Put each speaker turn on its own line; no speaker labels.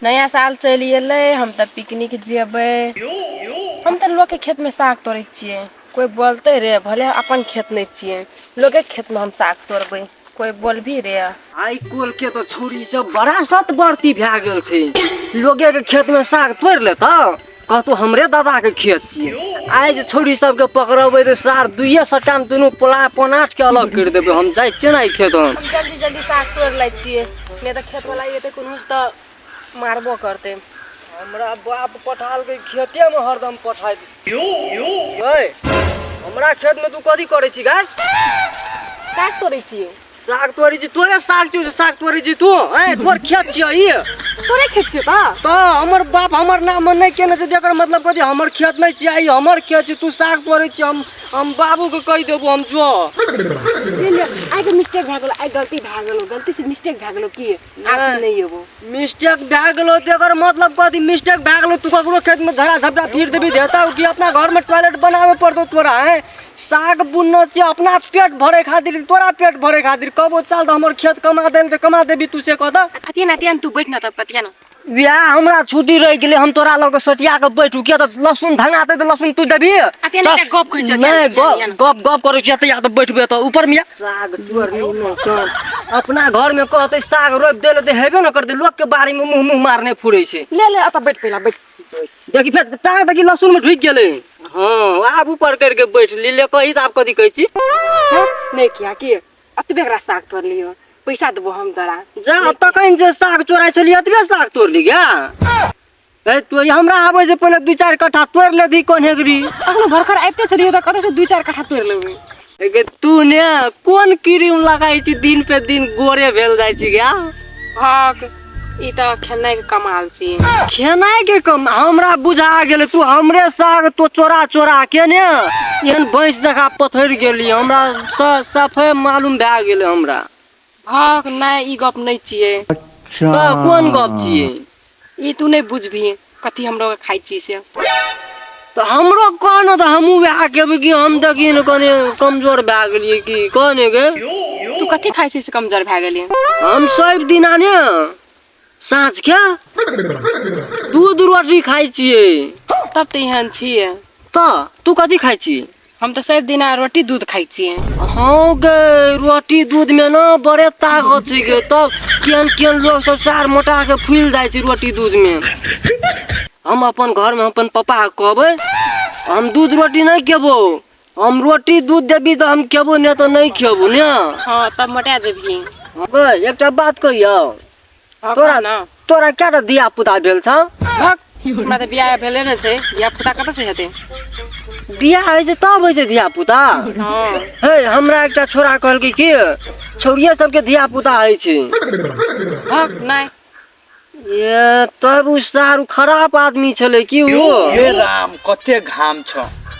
नया साल चलि अयलै हम तऽ पिकनिक जेबै हम तऽ लोकके खेतमे साग तोड़ै छियै कोइ बोलतै रे भले अपन खेत नहि छियै लोकके खेतमे हम साग तोड़बै कोइ बोलबी रे आइ कोल के
तो छोरी सब बड़ा सत बढ़ती भए गेल छै लोगे के खेत में साग तोड़ ले तो कहतो हमरे दादा के खेत छियै आइ जे छोरी सब के पकड़बै तऽ सार दुइये सट्टा में दुनू पोला पनाट के अलग कर देबै हम जाइ छियै ने खेत हम जल्दी जल्दी साग
तोड़ लै छियै नहि तऽ खेत वाला एते कोनो तऽ मारबो करते हमरा
बाप पठाल के खेते में हरदम पठाई यू यू गए हमरा खेत में तू कथी करे छी गाय का
करे छी साग तोरी जी
तोरे साग छौ साग तोरी जी तू ए तोर खेत छियै ई तोरे खेत छियै
बा तो हमर बाप
हमर नाम नहीं केने छै जेकर मतलब कथी हमर खेत नहीं छियै ई हमर खेत छै तू साग तोरे छी हम हम बाबू के कहि देबो हम जो आइ
के मिस्टेक भए गेलो आइ गलती भए गेलो गलती से मिस्टेक भए गेलो की आखिर नहीं एबो मिस्टेक भए
गेलो तो एकर मतलब कथी मिस्टेक भए गेलो तू ककरो खेत में धरा धपड़ा फिर देबी देता कि अपना घर में टॉयलेट बनावे पड़तो तोरा है साग बुनना छै अपना पेट भरे खातिर तोरा पेट भरे खातिर कबो चल तो हमर खेत कमा देल तो कमा देबी तू से कह दो अतियन अतियन तू बैठ
ना तब पतिया ना इएह हमरा
छुट्टी रहि गेलै हम तोरा लऽ कऽ सटिया कऽ बैठू किया तऽ लहसुन धंगा देतै तऽ लहसुन तू देबही अते नहि तऽ- गप कहै
छऽ, किया नहि नहि किया नहि? गप
गप करै छियै तऽ या तऽ बैठबै तऽ ऊपर मे साग चोर मुँह मे कान। अपना घर मे कहतै साग रोपि देले तऽ हेबे ने करतै लोक के बाड़ी मे मुंह मुंह मारने फुरै छै ले ले अतऽ बैठ पहिला
बैठ देखी फेर
टांग देखी लहसुन मे ढुकि गेलै हँ आब ऊपर करिके बैठ ली ले कही तऽ आब कथी कहै छी हैं? नहीं
किया कि अतबे एकरा साग तोड़ लियो पैसा देबो हम तोरा जा तखन जे
साग चोराइ छलियै अतबे साग तोड़ लिया ए तो हमरा आबै से पहिले दू चारि कट्ठा तोड़ ले दी कोन हेगरी अखनो भरखर आबिते
छलियै तऽ कतऽ से दू चारि कट्ठा तोड़ लेबै एगे तू
ने कोन क्रीम लगाइ छी दिन पे दिन गोरे भेल जाइ छी गे हँ
ई तऽ खेनाइ के कमाल छी खेनाइ के कम
हमरा बुझा गेल तू हमरे साग तो चोरा चोरा के ने एहन भैंस जका पथर गेली हमरा स- सफे मालूम भए गेल हमरा भक
नहि ई गप नहि छियै तऽ
कोन गप छियै ई तू नहि
बुझबही कथी हम लोग खाई छी से तो
हमरो कह न तो हमू वह कहबे कि हम तो की न कने कमजोर भए गेलिए कि कहने के तू कथी खाई
छी से कमजोर भए गेली हम सब
दिना ने साँझ के दूध रोटी खाई छिए तब तो एहन
छिए तो तू
कथी खाई छी हम तऽ सभ दिना
रोटी दूध खाइ छियै हँ गे
रोटी दूध में ना बड़े ताकत छै गे तब केहन केहन लोग सब सार मोटा के फूल जाय छै रोटी दूध में हम अपन घर में अपन पापा के कहबै हम दूध रोटी नहीं खेबो हम रोटी दूध देबी तो हम खेबो नहीं तो नहीं खेबो ने हाँ तब मोटा
जेबही गे एकटा
बात कहियो हँ, तोरा कहू ने तोरा क्या टा दिया पुता भेल छ भक, हमरा
तऽ बियाह भेले ने छै बियाह पुता कतऽ से हेतै बियाह
होइ छै तब होइ छै धिया पुता हँ हे
हमरा
एकटा छोरा कहलकै कि छौड़िये सबके धिया पुता होइ छै भक,
नहि ये
तब उ सारू खराब आदमी छलै कि ओ हे राम
कते घाम छ